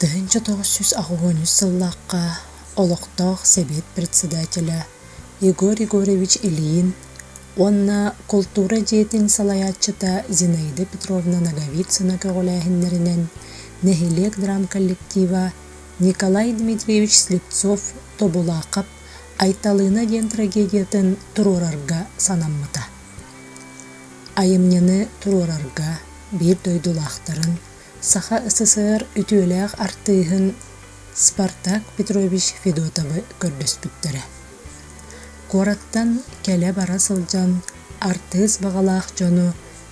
Тыһыынча тоҕус сүүс аҕыһыынньыс сыллаахха олохтоох Сэбиэт председателэ Егор Егорович Ильин уонна култуура дьиэтин салайааччыта Зинаида Петровна Ноговицына көҕүлээһиннэринэн нэһилиэк драм коллектива Николай Дмитриевич Слепцов Тобулаахап Айталыына диэн трагедиятын туруорарга санаммыта. Айымньыны туруорарга биир дойдулаахтарын, Саха СССР үтүөлээх артыыһын Спартак Петрович Федотовы көрдөспүттэрэ. Куораттан кэлэ-бара сылдьан артыыс баҕалаах дьону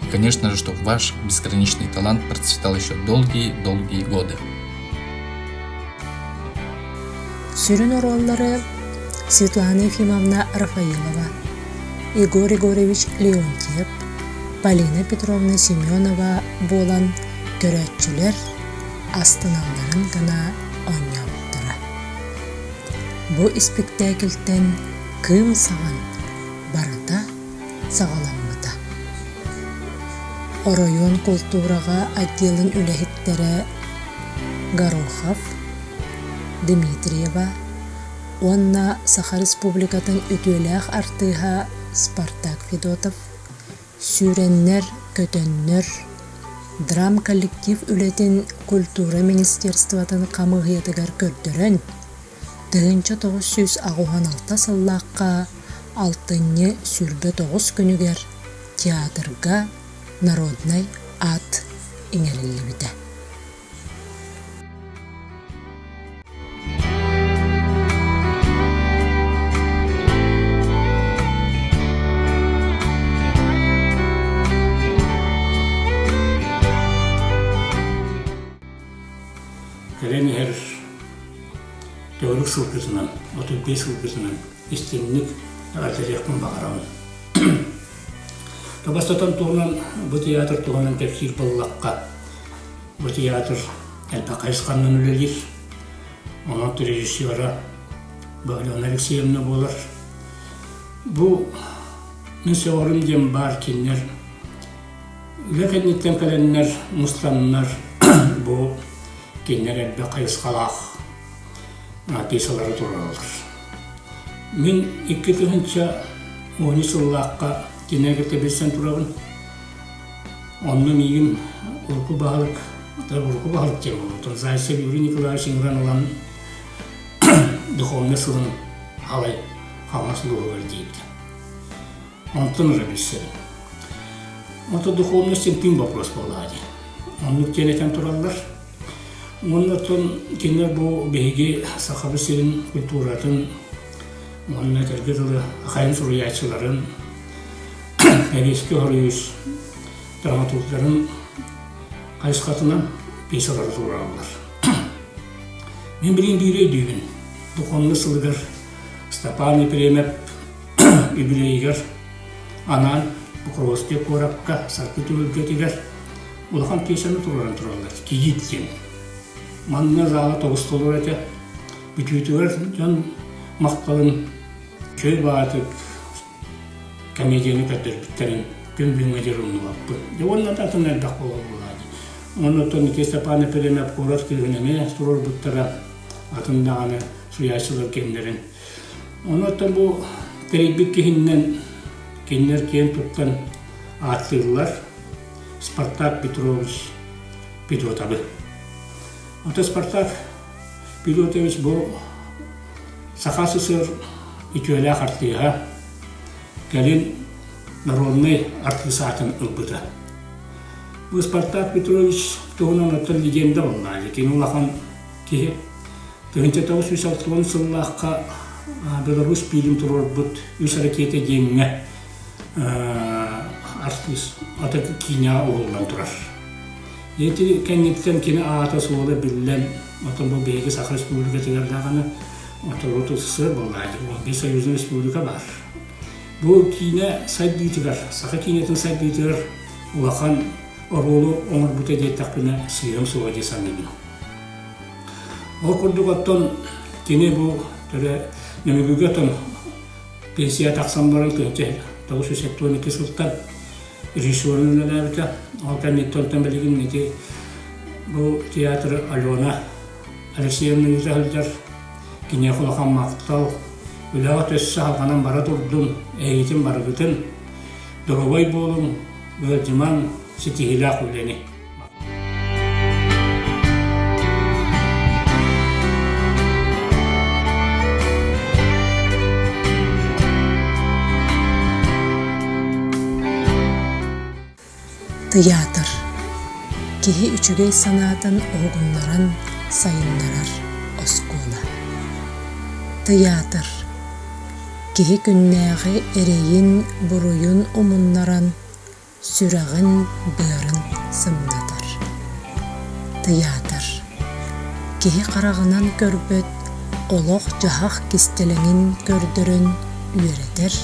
И, конечно же, что ваш безграничный талант процветал еще долгие-долгие годы. Сүрүн оруоллары Светлана Ефимовна Рафаилова, Егор Егорович Леонтьев, Полина Петровна Семенова буолан көрөөччүлэр астыналларын гына онньооттура. Бу испиктээкилтэн кыым саҕан барыта саҕаламмыта. Оройуон култуураҕа отделын үлэһиттэрэ Горохов Дмитриева уонна Саха Республикатын үтүөлээх артыыһа Спартак Федотов сүүрэннэр, көтөннөр драм-коллектив үлэтин культура министерствотын хамыыһыйатыгар көрдөрөн тыһыынча тоҕус сүүс аҕыһын алта сыллаахха алтынньы сүүрбэ тоҕус күнүгэр театрга народнай аат иҥэриллибитэ Кэлэн иһэр төрүт сылгытынан, отут биэс сылгытынан истиҥник эҕэрдэлиэхпин баҕарабын. Бастатан туһунан бу театр туһунан кэпсиир буоллахха, бу театр элбэх хайысханан үлэлиир. Онон режиссера Баглена Алексеевна буолар. Бу мин сөҕөрүм диэн баар кинилэр Үлэ кэнниттэн кэлэннэр мустаннар бу кинилэр элбэх хайысхалаах артыысалары туруораллар. Мин икки тыһыынча уон үс сыллаахха кинилэргэ тэбирсэн турабын. Онно миигин урукку баһылык, урукку баһылык диэн буолбутун Зайцев Юрий Николаевич Имран ылан духовнай сылын халай халмас дууһугар диибит. Онтон ыла билсэрим. Ото духовность ынтыын вопрос буолаат Оннук диэн этэн тураллар. Уоннаттан кинилэр бу биһиги Сахабыт сирин культуратын уонна этэргэ дылы ахайын суруйааччыларын Лавийский хоруйус драматургдарын хайысхатынан пьесалары туорааллар. Мен билин биир өйдүүбүн. Духовный сылыгар Степан Епремев Ибирэйигэр анаан Покровскай куоракка Саргы түһүлгэтигэр улахан пьесаны туруоран тураллар «Кигит» диэн. Манна зала тобустулар этэ. Бүтүүтүгэр дьон махталын Көй баатык комедияны көрдөрбүттэрин күн бүгүҥҥэ диэри умнубаппын. Дьэ уонна да атын элбэх буолар буолааччы. Оннуттан Никита Степан Епремьев куорат кыыһын эмиэ туруорбуттара атын даҕаны суйааччылар кэмнэрин Ону бу тэрийбит киһиннэн кинилэр киэн туттан ааттыыллар Спартак Петрович Пилотабы. Ото Спартак Пилотович бу Саха СССР үтүөлээх артыыһа, кэлин народнай артыыс аатын ылбыта. Бу Спартак Петрович туһунан оттон легенда буоллаҕа. Кини улахан Киһи тыһыынча тоҕус сүүс алта уон сыллаахха Беларусь пиилин туруорбут үс ракета диэҥҥэ артыыс ата киинэҕэ уһуллан турар. Ити кэнниттэн кини аата-суола биллэн, оттон бу биһиги Саха Республикатыгар даҕаны отороту сыр буолла. Ол биир союзная республика баар. Бу киинэ сайдыытыгар, саха киинэтин сайдыытыгар улахан оруолу оҥорбута диэттэхпинэ сыыһам суоҕа дии саныыбын. Ол курдук оттон кини бу төлө Нөмүгүгэ оттон пенсияҕа тахсан баран күнчэ тоҕус сүүс сэттэ уон икки сылтан режиссерун үлэлээбитэ. Ол кэнниттэн оттон билигин ити бу театр Алена Алексеевна ыыта сылдьар киниэхэ улахан махтал үлэҕэ төссө салҕанан бара турдун эйигитин барыгытын доруобай буолуҥ ыалдьымаҥ ситиһиилээх үлэни Тыйаатыр киһи үчүгэй санаатын уһугуннаран сайыннарар оскуола. Тыйаатыр киһи күннээҕи эрэйин, буруйун умуннаран сүрэҕин-быарын сымнатар, тыйаатар. Киһи хараҕынан көрбөт олох-дьаһах кистэлэҥин көрдөрөн үөрэтэр,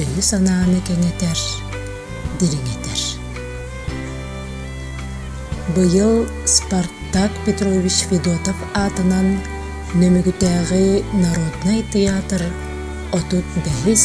өйү-санааны кэҥэтэр, дириҥэтэр. Быйыл Спартак Петрович Федотов аатынан Нөмүгүтээҕи народнай тыйаатыр отут бэһис